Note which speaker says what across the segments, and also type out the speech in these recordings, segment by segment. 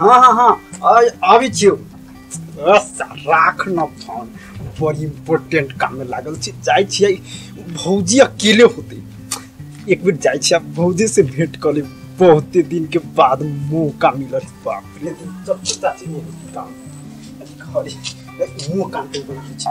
Speaker 1: हाँ हाँ हाँ आइ आबै छियौ बस राख न फोन बड़ी इम्पोर्टेंट काम में लागल छी जाइ छियै भौजी अकेले होते एक बेर जाइ छियै भौजी से भेंट कर लेब बहुते दिन के बाद मौका मिलत बाप रे जब पता छै वो काम खरी मौका पे बोलै छै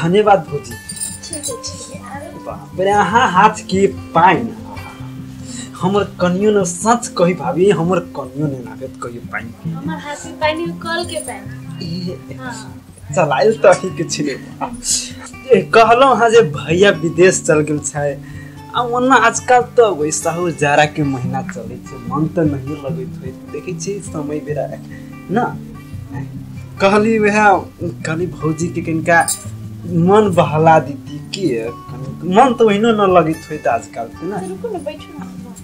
Speaker 1: धन्यवाद भौजी ठीक
Speaker 2: है ठीक है आरो बाप रे अहाँ
Speaker 1: हाथ के पाइन हमर कनियो ने सच कही भाभी हमर कनियो ने लागत कहियो पाइन हमर हाथ से पानी
Speaker 2: कल के पानी ए, हाँ चलायल तऽ
Speaker 1: ही किछु नहि बा। ए, कहलहुँ हँ जे भैया विदेश चल गेल छै आ ओना आजकल तऽ वैसा हो जाड़ा के महीना चलै छै मन तऽ नहिए लगैत होइ देखै छी समय बेरा ना कहली वएह कहली भौजी के कनिका मन बहला दीती के कनि- मन तऽ ओहिनो न लगैत होइत आजकल के ना रुकू ने बैठू
Speaker 2: ना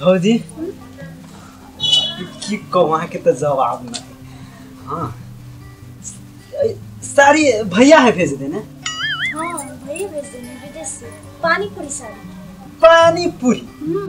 Speaker 1: भौजी की कहूँ अहाँके तऽ जवाब नहि हाँ ऐ, साड़ी भैया है भेज देने हाँ भैया भेज देने विदेश से
Speaker 2: पानी पूरी साड़ी पानी
Speaker 1: पूरी हम्म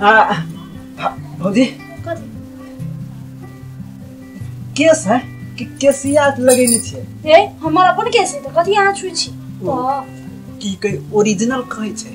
Speaker 1: आ, भा- भौजी केस है कि केसिया लगेने छै ए हमर अपन
Speaker 2: केस है तऽ कथी अहाँ छुइ छी ओ। तऽ की
Speaker 1: कहि ओरिजिनल कहै छै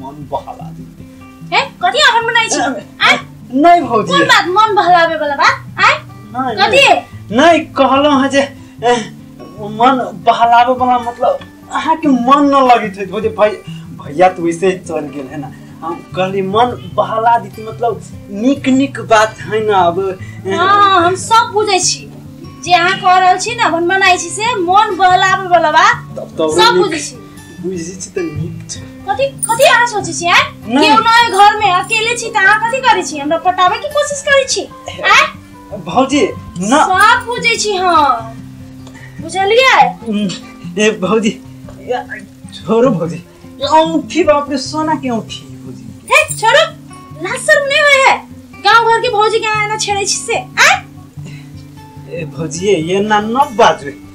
Speaker 1: मन बहला दी ए कथी अपन
Speaker 2: बनाइ छी आय नहीं भौजी कोन
Speaker 1: बात मन बहलावे
Speaker 2: वाला बात आय नहीं, कथी नहीं, नहीं
Speaker 1: कहलो है जे ए, मन बहलावे वाला मतलब अहाँ के मन न लगी थे भौजी भाई भैया तो वैसे ही चल गेल है ना हम कहली मन बहला दी थी, मतलब निक निक बात है ना अब ए, हाँ हम
Speaker 2: सब बुझै छी जे अहाँ कह रहल छी ना अपन बनाइ छी से मन बहलावे वाला बात तब तो सब निक- बुझै छी बुझी छी त नीक
Speaker 1: छै कथी कथी अहाँ सोचै
Speaker 2: छी हैं नहि। केओ नहि घर में अकेले छी त अहाँ कथी करै छी हमरा पटाबै के कोशिश करै छी हैं भौजी
Speaker 1: न सब बुझै छी
Speaker 2: हम बुझलियै उम्,
Speaker 1: ए भौजी या, छोड़ो भौजी ये औंठी बाप रे सोना के औंठी भौजी के। हे छोड़ो
Speaker 2: लाज शर्म नहीं होय है गांव घर के भौजी के आना छेड़े छी से हैं
Speaker 1: ए भौजी ये ना न बाजू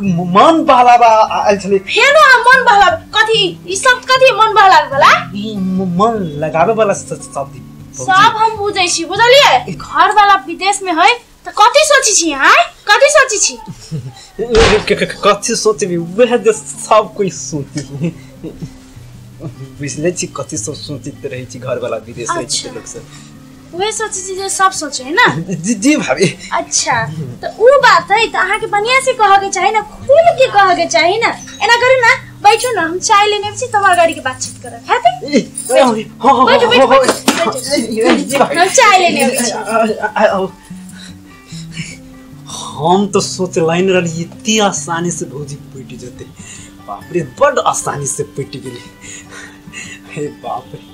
Speaker 2: मन
Speaker 1: बहलावा आ- आयल छलै फेनो अहाँ मन बहला
Speaker 2: कथी ई शब्द कथी मन बहला वाला ई म- मन
Speaker 1: लगाबे वाला स- स- शब्द ई। सब हम
Speaker 2: बुझै छी बुझलिए घर वाला विदेश में है त कथी सोचै छी अहाँ कथी सोचै छी क- क- क- कथी सोचबी
Speaker 1: वएह जे सब कोई सोचबी बुझले छी कथी सब सोचित रहै छी घरवाला विदेश रहै छी अच्छा। लोक सब उहे सोचे छी
Speaker 2: जे सब सोचे है ना जी जी भाभी
Speaker 1: अच्छा
Speaker 2: तो उ बात है तो अहाँ के बढ़िया से कह के चाहिए ना खुल के कह के चाहिए ना एना करू ना बैठो ना हम चाय लेने छी तुम्हार गाड़ी के बातचीत करब है ते ए, हाँ, हाँ, हाँ, बैठो, बैठो, हाँ, बैठो, हाँ, ए, जी भाभी हम चाय लेने अबै छी आ- आ- आओ।
Speaker 1: हम तो सोच लाइन रही इतनी आसानी से भौजी पिट जते बाप रे बड़ आसानी से पिट गेली हे बाप रे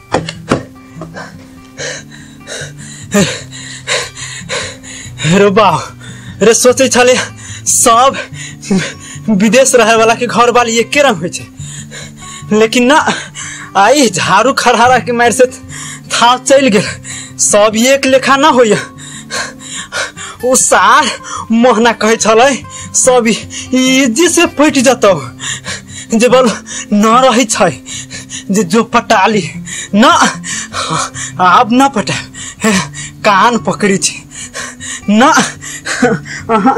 Speaker 1: रे बा रे सोचे छले सब विदेश रहे वाला के घर वाली एके रंग होइ छै लेकिन ना आई झाड़ू खरहारा के मारि से थाव चलि गेल सब एक लेखा ना होइए ओ सार मोहना कहै छलै सब इजी से फटि जतौ जे बल न रहै छै जे जो पटाली न आब न पटा कान पकड़ी छै न अहाँ